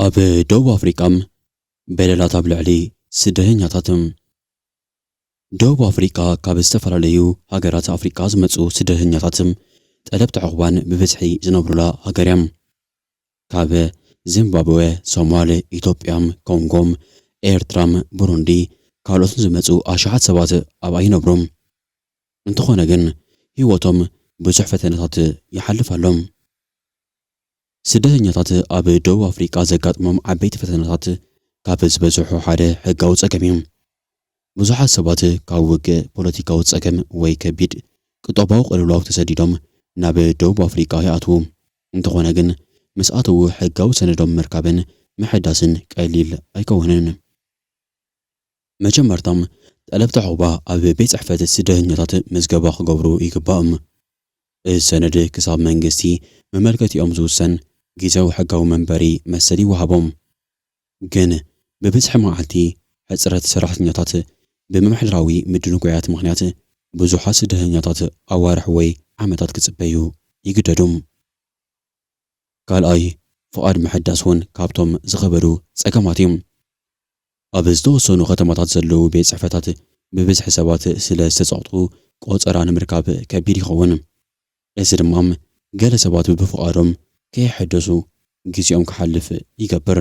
ኣብ ደቡብ ኣፍሪቃ በደላት ኣብ ልዕሊ ስደተኛታት። ደቡብ ኣፍሪቃ ካብ ዝተፈላለዩ ሃገራት ኣፍሪቃ ዝመጹ ስደተኛታት ጠለብቲ ዑቕባን ብብዝሒ ዝነብሩላ ሃገር እያ። ካብ ዚምባብወ፣ ሶማል፣ ኢትዮጵያ፣ ኮንጎ፣ ኤርትራ፣ ብሩንዲ ካልኦትን ዝመጹ ኣሽሓት ሰባት ኣብኣ ይነብሩ። እንተኾነ ግን ህይወቶም ብዙሕ ፈተነታት ይሓልፍ ኣሎ። ስደተኛታት ኣብ ደቡብ ኣፍሪቃ ዘጋጥሞም ዓበይቲ ፈተነታት ካብ ዝበዝሑ ሓደ ሕጋዊ ጸገም እዩ። ብዙሓት ሰባት ካብ ውግእ፣ ፖለቲካዊ ጸገም ወይ ከቢድ ቁጠባዊ ቅልውላው ተሰዲዶም ናብ ደቡብ ኣፍሪቃ ይኣትዉ። እንተኾነ ግን ምስ ኣተዉ ሕጋዊ ሰነዶም ምርካብን ምሕዳስን ቀሊል ኣይከውንን። መጀመርታ ጠለብቲ ዑቕባ ኣብ ቤት ጽሕፈት ስደተኛታት ምዝገባ ክገብሩ ይግባእም። እዚ ሰነድ ክሳብ መንግስቲ መመልከቲኦም ዝውሰን ጊዚያዊ ሕጋዊ መንበሪ መሰል ይወሃቦም። ግን ብብዝሒ መዓልቲ ሕጽረት ሰራሕተኛታት ብምምሕዳራዊ ምድንጓያት ምኽንያት ብዙሓት ስደተኛታት ኣዋርሕ ወይ ዓመታት ክጽበዩ ይግደዱ። ካልኣይ ፍቓድ ምሕዳስ እውን ካብቶም ዝኸበዱ ጸገማት እዩ። ኣብ ዝተወሰኑ ከተማታት ዘለዉ ቤት ጽሕፈታት ብብዝሒ ሰባት ስለ ዝተጸቕጡ ቆጸራ ንምርካብ ከቢድ ይኸውን። እዚ ድማ ገለ ሰባት ብፍቓዶም ከየሐደሱ ግዜኦም ክሓልፍ ይገብር።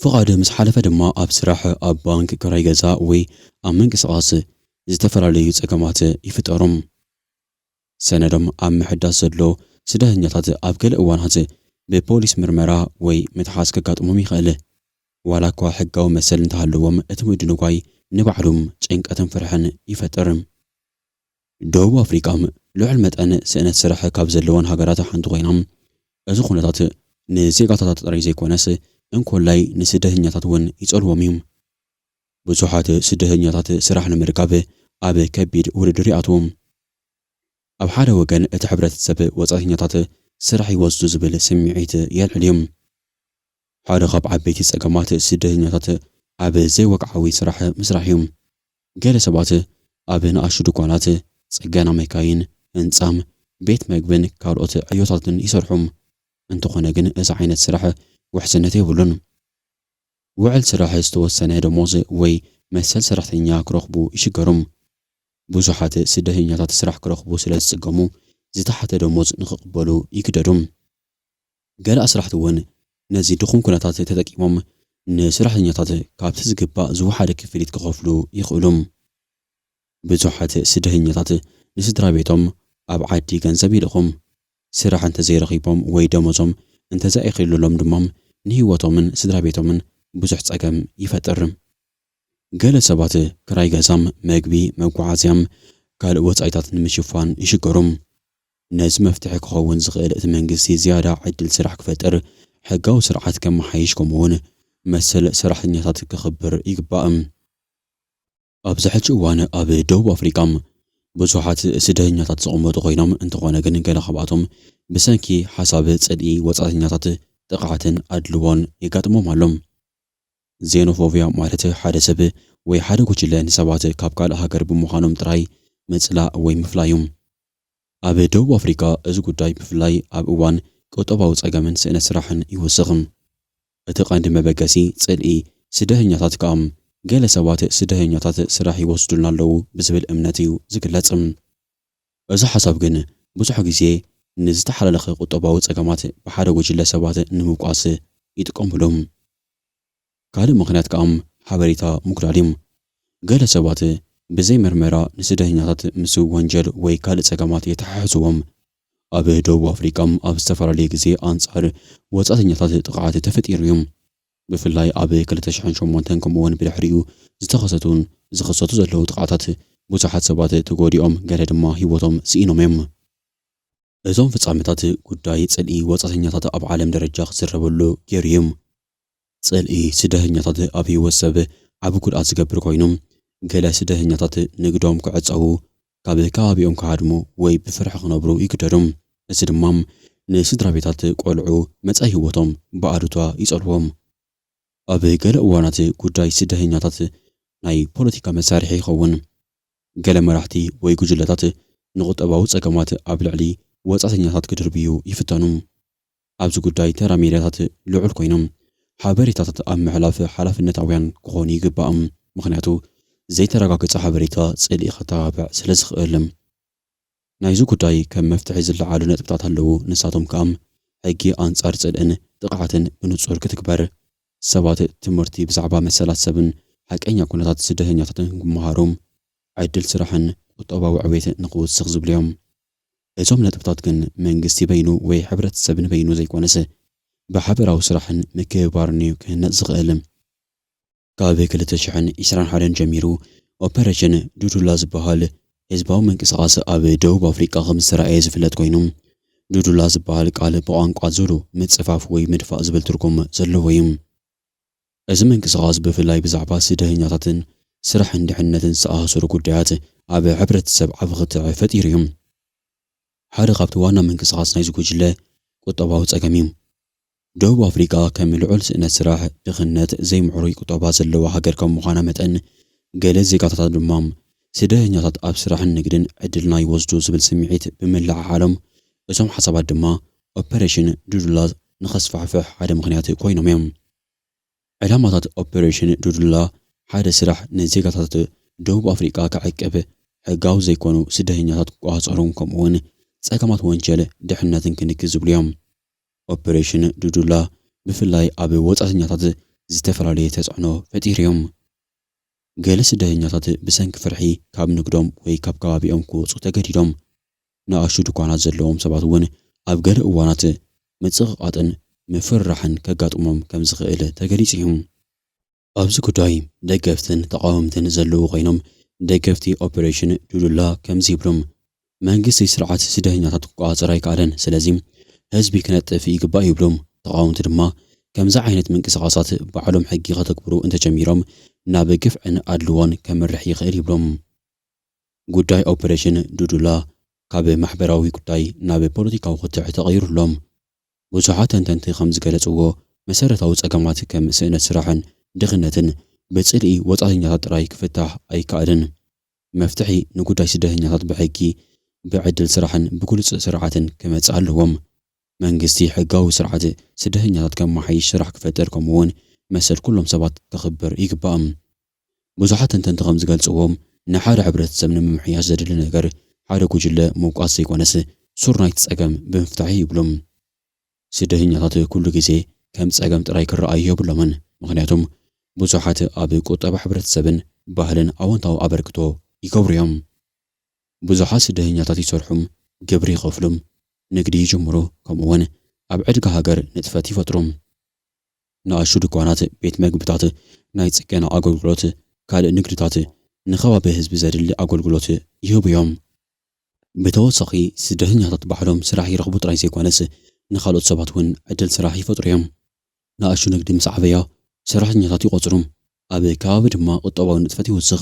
ፍቓድ ምስ ሓለፈ ድማ ኣብ ስራሕ፣ ኣብ ባንክ፣ ክራይ ገዛ ወይ ኣብ ምንቅስቓስ ዝተፈላለዩ ጸገማት ይፍጠሩ። ሰነዶም ኣብ ምሕዳስ ዘሎ ስደተኛታት ኣብ ገለ እዋናት ብፖሊስ ምርመራ ወይ ምትሓዝ ከጋጥሞም ይኽእል። ዋላኳ ሕጋዊ መሰል እንተሃለዎም እቲ ምድንጓይ ንባዕሉ ጭንቀትን ፍርሕን ይፈጥር። ደቡብ ኣፍሪቃ ልዑል መጠን ስእነት ስራሕ ካብ ዘለወን ሃገራት ሓንቲ ኮይና፣ እዚ ኩነታት ንዜጋታታ ጥራይ ዘይኮነስ እንኮላይ ንስደተኛታት እውን ይጸልዎም እዩ። ብዙሓት ስደተኛታት ስራሕ ንምርካብ ኣብ ከቢድ ውድድር ይኣትዉ። ኣብ ሓደ ወገን እቲ ሕብረተሰብ ወጻእተኛታት ስራሕ ይወስዱ ዝብል ስምዒት የልዕል እዩ። ሓደ ካብ ዓበይቲ ጸገማት ስደተኛታት ኣብ ዘይወግዓዊ ስራሕ ምስራሕ እዩ። ገለ ሰባት ኣብ ንኣሽቱ ድኳናት፣ ጽገና መካይን፣ ህንጻ፣ ቤት መግብን ካልኦት ዕዮታትን ይሰርሑ። እንተኾነ ግን እዚ ዓይነት ስራሕ ውሕስነት የብሉን። ውዕል ስራሕ ዝተወሰነ ደሞዝ ወይ መሰል ሰራሕተኛ ክረኽቡ ይሽገሩም። ብዙሓት ስደተኛታት ስራሕ ክረኽቡ ስለ ዝጽገሙ ዝተሓተ ደሞዝ ንኽቕበሉ ይግደዱም። ገለ ኣስራሕቲ እውን ነዚ ድኹም ኩነታት ተጠቂሞም ንስራሕተኛታት ካብቲ ዝግባእ ዝወሓደ ክፍሊት ክኸፍሉ ይኽእሉም። ብዙሓት ስደህኛታት ንስድራቤቶም ኣብ ዓዲ ገንዘብ ይልእኹ። ስራሕ እንተዘይረኺቦም ወይ ደሞዞም እንተዘኣይክልሎም ድማ ንህይወቶምን ስድራቤቶምን ብዙሕ ጸገም ይፈጥር። ገለ ሰባት ክራይ ገዛ፣ መግቢ፣ መጓዓዝያን ካልእ ወጻኢታት ንምሽፋን ይሽገሩ። ነዚ መፍትሒ ክኸውን ዝኽእል እቲ መንግስቲ ዝያዳ ዕድል ስራሕ ክፈጥር፣ ሕጋዊ ስርዓት ከመሓይሽ ከምኡ'ውን መሰል ሰራሕተኛታት ከኽብር ይግባእ። ኣብዚ ሕጂ እዋን ኣብ ደቡብ ኣፍሪቃ ብዙሓት ስደተኛታት ዝቕመጡ ኮይኖም፣ እንተኾነ ግን ገለ ካብኣቶም ብሰንኪ ሓሳብ ጽልኢ ወጻእተኛታት ጥቕዓትን ኣድልዎን የጋጥሞም ኣሎ። ዜኖፎብያ ማለት ሓደ ሰብ ወይ ሓደ ጉጅለ ንሰባት ካብ ካልእ ሃገር ብምዃኖም ጥራይ ምጽላእ ወይ ምፍላይ'ዩ። ኣብ ደቡብ ኣፍሪቃ እዚ ጉዳይ ብፍላይ ኣብ እዋን ቁጠባዊ ጸገምን ስእነት ስራሕን ይውስኽ። እቲ ቀንዲ መበገሲ ጽልኢ ስደህኛታት ከኣ ገለ ሰባት ስደህኛታት ስራሕ ይወስዱልና ኣለዉ ብዝብል እምነት እዩ ዝግለጽ። እዚ ሓሳብ ግን ብዙሕ ግዜ ንዝተሓላለኸ ቁጠባዊ ጸገማት ብሓደ ጉጅለ ሰባት ንምብቋስ ይጥቀሙሉ። ካልእ ምኽንያት ከኣ ሓበሬታ ምጉዳል እዩ። ገለ ሰባት ብዘይ መርመራ ንስደተኛታት ምስ ወንጀል ወይ ካልእ ጸገማት የተሓሕዝዎም። ኣብ ደቡብ ኣፍሪቃ ኣብ ዝተፈላለየ ግዜ ኣንጻር ወጻእተኛታት ጥቕዓት ተፈጢሩ እዩ። ብፍላይ ኣብ ክልተ ሽሕን ሸሞንተን ከምኡ'ውን ብድሕሪኡ ዝተኸሰቱን ዝኽሰቱ ዘለዉ ጥቕዓታት ብዙሓት ሰባት ተጎዲኦም ገለ ድማ ህይወቶም ስኢኖም እዮም። እዞም ፍጻመታት ጉዳይ ጽልኢ ወጻእተኛታት ኣብ ዓለም ደረጃ ክዝረበሉ ገይሩ እዩ። ጽልኢ ስደህኛታት ኣብ ህይወት ሰብ ዓቢ ጉድኣት ዝገብር ኮይኑ፣ ገለ ስደህኛታት ንግዶም ክዕጸዉ፣ ካብ ከባቢኦም ክሃድሙ ወይ ብፍርሒ ክነብሩ ይግደዱ። እዚ ድማ ንስድራቤታት ቆልዑ መጻኢ ህይወቶም ብኣሉታ ይጸልዎም። ኣብ ገለ እዋናት ጉዳይ ስደህኛታት ናይ ፖለቲካ መሳርሒ ይኸውን። ገለ መራሕቲ ወይ ጉጅለታት ንቁጠባዊ ጸገማት ኣብ ልዕሊ ወጻእተኛታት ክድርብዩ ይፍተኑ። ኣብዚ ጉዳይ ተራ ሚድያታት ልዑል ኮይኖም ሓበሬታታት ኣብ ምሕላፍ ሓላፍነታውያን ክኾኑ ይግባእ። ምኽንያቱ ዘይተረጋገፀ ሓበሬታ ፅልኢ ከተባብዕ ስለዝኽእል። ናይዚ ጉዳይ ከም መፍትሒ ዝለዓሉ ነጥብታት ኣለዉ። ንሳቶም ከዓ ሕጊ ኣንፃር ፅልእን ጥቕዓትን ብንፁር ክትግበር፣ ሰባት ትምህርቲ ብዛዕባ መሰላት ሰብን ሓቀኛ ኩነታት ስደተኛታትን ክመሃሩ፣ ዕድል ስራሕን ቁጠባዊ ዕቤት ንኽውስኽ ዝብሉ እዮም። እዞም ነጥብታት ግን መንግስቲ በይኑ ወይ ሕብረተሰብ ንበይኑ ዘይኮነስ ብሓበራዊ ስራሕን ምክብባርን እዩ ክህነፅ ዝኽእል። ካብ ክልተ ሽሕን ዕስራን ሓደን ጀሚሩ ኦፐረሽን ዱዱላ ዝበሃል ህዝባዊ ምንቅስቓስ ኣብ ደቡብ ኣፍሪቃ ከምዝተራእየ ዝፍለጥ ኮይኑ ዱዱላ ዝበሃል ቃል ብቋንቋ ዙሉ ምፅፋፍ ወይ ምድፋእ ዝብል ትርጉም ዘለዎ እዩ። እዚ ምንቅስቓስ ብፍላይ ብዛዕባ ስደህኛታትን ስራሕን ድሕነትን ዝተኣሳሰሩ ጉዳያት ኣብ ሕብረተሰብ ዓቢ ክትዕ ፈጢሩ እዩ። ሓደ ካብቲ ዋና ምንቅስቓስ ናይዚ ጉጅለ ቁጠባዊ ጸገም እዩ። ደቡብ ኣፍሪቃ ከም ልዑል ስእነት ስራሕ፣ ድኽነት፣ ዘይምዕሩይ ቁጠባ ዘለዋ ሃገር ከም ምዃና መጠን ገለ ዜጋታታ ድማ ስደህኛታት ኣብ ስራሕን ንግድን ዕድልና ይወስዱ ዝብል ስምዒት ብምልዕዓሎም እዞም ሓሳባት ድማ ኦፐረሽን ዱዱላ ንኸስፋሕፍሕ ሓደ ምኽንያት ኮይኖም እዮም። ዕላማታት ኦፕሬሽን ዱዱላ ሓደ ስራሕ ንዜጋታት ደቡብ ኣፍሪቃ ክዕቅብ፣ ሕጋዊ ዘይኮኑ ስደተኛታት ክቆጻጸሩን ከምኡ'ውን ጸገማት ወንጀል ድሕነትን ክንክን ዝብሉ እዮም። ኦፕሬሽን ዱዱላ ብፍላይ ኣብ ወጻእተኛታት ዝተፈላለየ ተጽዕኖ ፈጢሩ እዮም። ገለ ስደተኛታት ብሰንኪ ፍርሒ ካብ ንግዶም ወይ ካብ ከባቢኦም ክወጹ ተገዲዶም። ንኣሽቱ ድኳናት ዘለዎም ሰባት እውን ኣብ ገለ እዋናት ምጽቕቓጥን ምፍርራሕን ከጋጥሞም ከም ዝኽእል ተገሊጹ እዩ። ኣብዚ ጉዳይ ደገፍትን ተቓወምትን ዘለዉ ኮይኖም፣ ደገፍቲ ኦፕሬሽን ዱዱላ ከምዚ ይብሉ፣ መንግስቲ ስርዓት ስደተኛታት ክቆጻጸር ኣይከኣለን፣ ስለዚ ህዝቢ ክነጥፍ ይግባእ ይብሉ። ተቓወምቲ ድማ ከምዚ ዓይነት ምንቅስቓሳት ባዕሎም ሕጊ ከተግብሩ እንተጀሚሮም ናብ ግፍዕን ኣድልዎን ከምርሕ ይኽእል ይብሉ። ጉዳይ ኦፕሬሽን ዱዱላ ካብ ማሕበራዊ ጉዳይ ናብ ፖለቲካዊ ክትዕ ተቐይሩ ኣሎ። ብዙሓት ተንተንቲ ከም ዝገለጽዎ፣ መሰረታዊ ጸገማት ከም ስእነት ስራሕን ድኽነትን ብጽልኢ ወጻእተኛታት ጥራይ ክፍታሕ ኣይከኣልን። መፍትሒ ንጉዳይ ስደተኛታት ብሕጊ፣ ብዕድል ስራሕን ብግሉጽ ስርዓትን ክመጽእ ኣለዎም። መንግስቲ ሕጋዊ ስርዓት ስደተኛታት ከመሓይሽ፣ ስራሕ ክፈጥር ከምኡ'ውን መሰል ኩሎም ሰባት ከኽብር ይግባእ። ብዙሓት ተንተንቲ ከም ዝገልጽዎ፣ ንሓደ ሕብረተሰብ ንምምሕያሽ ዘድሊ ነገር፣ ሓደ ጉጅለ ምውቃስ ዘይኮነስ፣ ሱር ናይቲ ጸገም ብምፍታሕ'ዩ ይብሉ። ስደተኛታት ኩሉ ግዜ ከም ጸገም ጥራይ ክረኣዩ የብሎምን፣ ምኽንያቱም ብዙሓት ኣብ ቁጠባ ሕብረተሰብን ባህልን ኣወንታዊ ኣበርክቶ ይገብሩ'ዮም። ብዙሓት ስደተኛታት ይሰርሑ፣ ግብሪ ይኸፍሉ፣ ንግዲ ይጅምሩ፣ ከምኡ'ውን ኣብ ዕድጋ ሃገር ንጥፈት ይፈጥሩ። ንኣሽቱ ድኳናት፣ ቤት መግብታት፣ ናይ ጽገና ኣገልግሎት፣ ካልእ ንግድታት፣ ንከባቢ ህዝቢ ዘድሊ ኣገልግሎት ይህቡ እዮም። ብተወሳኺ ስደተኛታት ባዕሎም ስራሕ ይረኽቡ ጥራይ ዘይኮነስ ንኻልኦት ሰባት እውን ዕድል ስራሕ ይፈጥሩ እዮም። ንኣሽቱ ንግዲ ምስ ዓበያ ሰራሕተኛታት ይቖጽሩ፣ ኣብ ከባቢ ድማ ቁጠባዊ ንጥፈት ይውስኽ።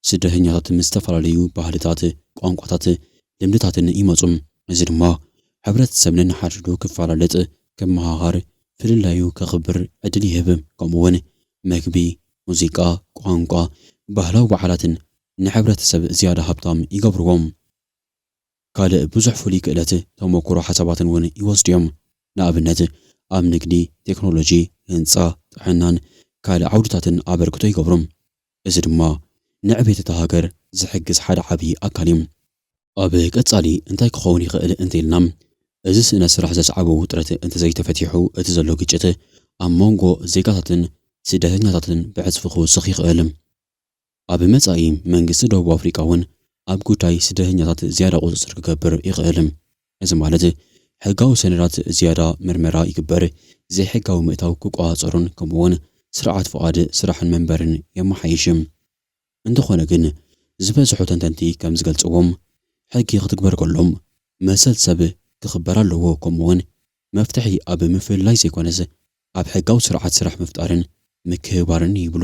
ስደተኛታት ምስ ዝተፈላለዩ ባህልታት፣ ቋንቋታት፣ ልምድታትን ይመጹ። እዚ ድማ ሕብረተሰብ ነንሓድሕዱ ክፈላለጥ፣ ክመሃሃር፣ ፍልላዩ ከኽብር ዕድል ይህብ። ከምኡ'ውን መግቢ፣ ሙዚቃ፣ ቋንቋ፣ ባህላዊ በዓላትን ንሕብረተሰብ ዝያዳ ሃብታም ይገብርዎ። ካልእ ብዙሕ ፍሉይ ክእለት፣ ተሞኩሮ፣ ሓሳባትን እውን ይወስዱ እዮም። ንኣብነት ኣብ ንግዲ፣ ቴክኖሎጂ፣ ህንጻ፣ ጥዕናን ካልእ ዓውድታትን ኣበርክቶ ይገብሩ። እዚ ድማ ንዕቤት እታ ሃገር ዝሕግዝ ሓደ ዓብዪ ኣካል እዩ። ኣብ ቀፃሊ እንታይ ክኸውን ይኽእል እንተይልና እዚ ስእነት ስራሕ ዘስዓቦ ውጥረት እንተዘይተፈቲሑ እቲ ዘሎ ግጭት ኣብ ሞንጎ ዜጋታትን ስደተኛታትን ብዕፅፊ ክውስኽ ይኽእል። ኣብ መፃኢ መንግስቲ ደቡብ ኣፍሪቃ እውን ኣብ ጉዳይ ስደተኛታት ዝያዳ ቁፅፅር ክገብር ይኽእል። እዚ ማለት ሕጋዊ ሰነዳት ዝያዳ ምርመራ ይግበር፣ ዘይሕጋዊ ምእታው ክቆጻጸሮን ከምኡ'ውን ስርዓት ፍቓድ ስራሕን መንበርን የመሓይሽ። እንተኾነ ግን ዝበዝሑ ተንተንቲ ከም ዝገልጽዎም ሕጊ ክትግበር ከሎ መሰል ሰብ ክኽበር ኣለዎ ከምኡ'ውን መፍትሒ ኣብ ምፍልላይ ዘይኮነስ ኣብ ሕጋዊ ስርዓት ስራሕ ምፍጣርን ምክብባርን እዩ ይብሉ።